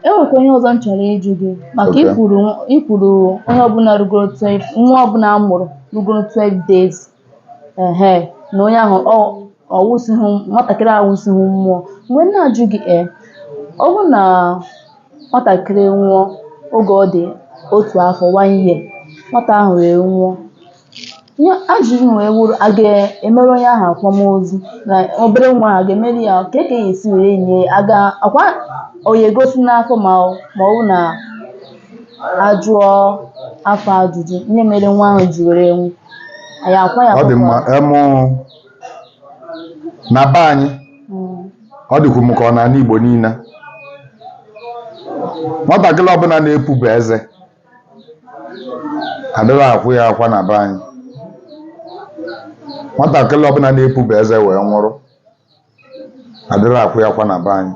e nwekwa ihe ọzọ m chọrọ ịjụ gị maka Okay. i kwuru i kwuru onye ọbụla rugoro 12 nwa ọbụla a mụrụ rugoro 12 days ehe na onye ahụ ọ wụsịghị nwatakịrị awụsịghị mmụọ mgbe m na-ajụ gị e ọ bụrụ na nwatakịrị nwụọ oge ọ dị otu afọ one year nwata ahụ wee nwụọ Ihe ajụjụ wee wụrụ a ga-emere onye ahụ akwamozu na obere nwa ahụ a ga-emere ya ka e ka ya esi were nye ya aga akwa ọ ya egosi n'afọ ma ọ ma ọ bụ na a jụọ afa ajụjụ ihe mere nwa ahụ ji were nwụ anyị akwa ya ọ dị mma papa. em na be anyị Mm. ọ dịkwu m ka ọ n'ala Igbo niile nwatakịrị ọbụla na-epube eze adịghị akwa ya akwa na be anyị nwatakịrị ọbụla na-epube eze wee nwụrụ adịghị akwa ya akwa na be anyị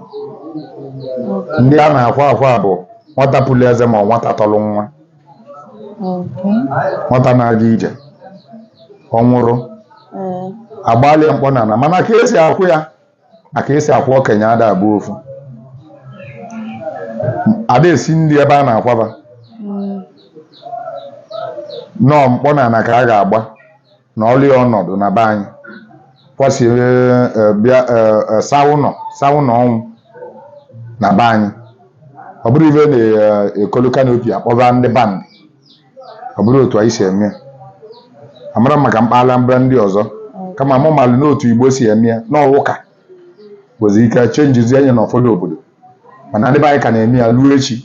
ndị a na-akwa akwa bụ nwata puru eze ma ọ nwata toro nwa nwata na-aga ije ọ nwụrụ agbalị ya mkpọnana mana ka esi akwa ya na ka esi akwa okenye ada abụ ofu ada esi nri ebe a na-akwaba nọọ mkpọnana ka a ga-agba nọlị ya ọnọdụ na be anyị kwasịa eh, bịa eh, eh, saa ụnọ saa ụnọ ọnwụ na be anyị ọ bụrọ ife a na-ekolu canopy akpọba ndị band ọ bụrọ otu anyị si eme ya amarọ m maka mpaghara Anambra ndị ọzọ kama mụ malụ na otu Igbo si eme ya na ọ wụ ka nwezi ike changezie ya na ụfọdụ obodo mana ndị be anyị ka na-eme ya ruo echi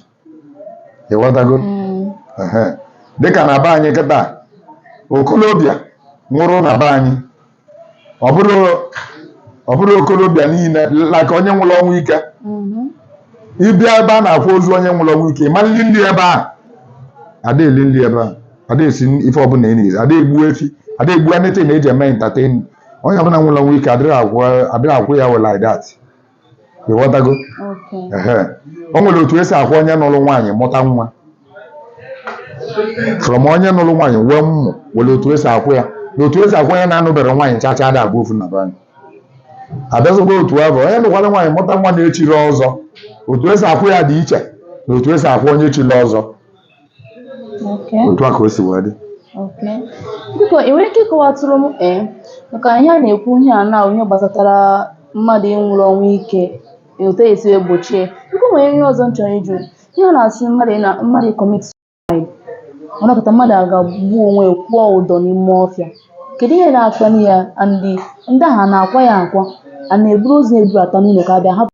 ị ghọtago Mm. Ehe. dịka na be anyị kịta okolobịa nwụrụ na be anyị ọ bụrọ ọ bụrọ okorobịa niile like onye nwụrụ ọnwụ ike Mhm. ị bịa ebe a na-akwa ozu onye nwụrụ ọnwụ ike ị ma eli nri ebe ahụ ada eli nri ebe ahụ ada esi ife ọbụla ị na-eri ada egbu efi ada egbu anything eji eme entertain onye ọbụla nwụrụ ọnwụ ike adịrọ akwa adịrọ akwa ya well like that ị ghọtago Okay. Ehe. o nwere otu esi akwa onye nụrụ nwaanyị mụta nwa from onye nụrụ nwaanyị wee nwụ o nwere otu esi akwa ya na otu esi akwa onye na-anụberọ nwaanyị chacha ada abụ ofu na be anyị abịazịgo otu ahụ onye nụkwara nwaanyị mụta nwa na-echirọ ọzọ otu esi akwa ya dị iche na otu esi akwa onye chiri ọzọ Okay. otu a ka o si wee dị Okay. Biko ị nwere ike ịkọwatụrụ m ee maka ihe a na-ekwu ihe a na ihe gbasatara mmadụ ịnwụrụ ọnwụ ike otu e si egbochi ya biko o nwere ihe ọzọ m chọrọ ịjụ ihe a na-asị mmadụ ị na mmadụ commit suicide a nọkata mmadụ aga gbuo onwe ya, kwụọ ụdọ n'ime ọfịa kedu ihe na-akpali ya and ndị ahụ a na-akwa ya akwa a na-eburu ozu ebubata n'ụlọ ka ọ bụ a hapụ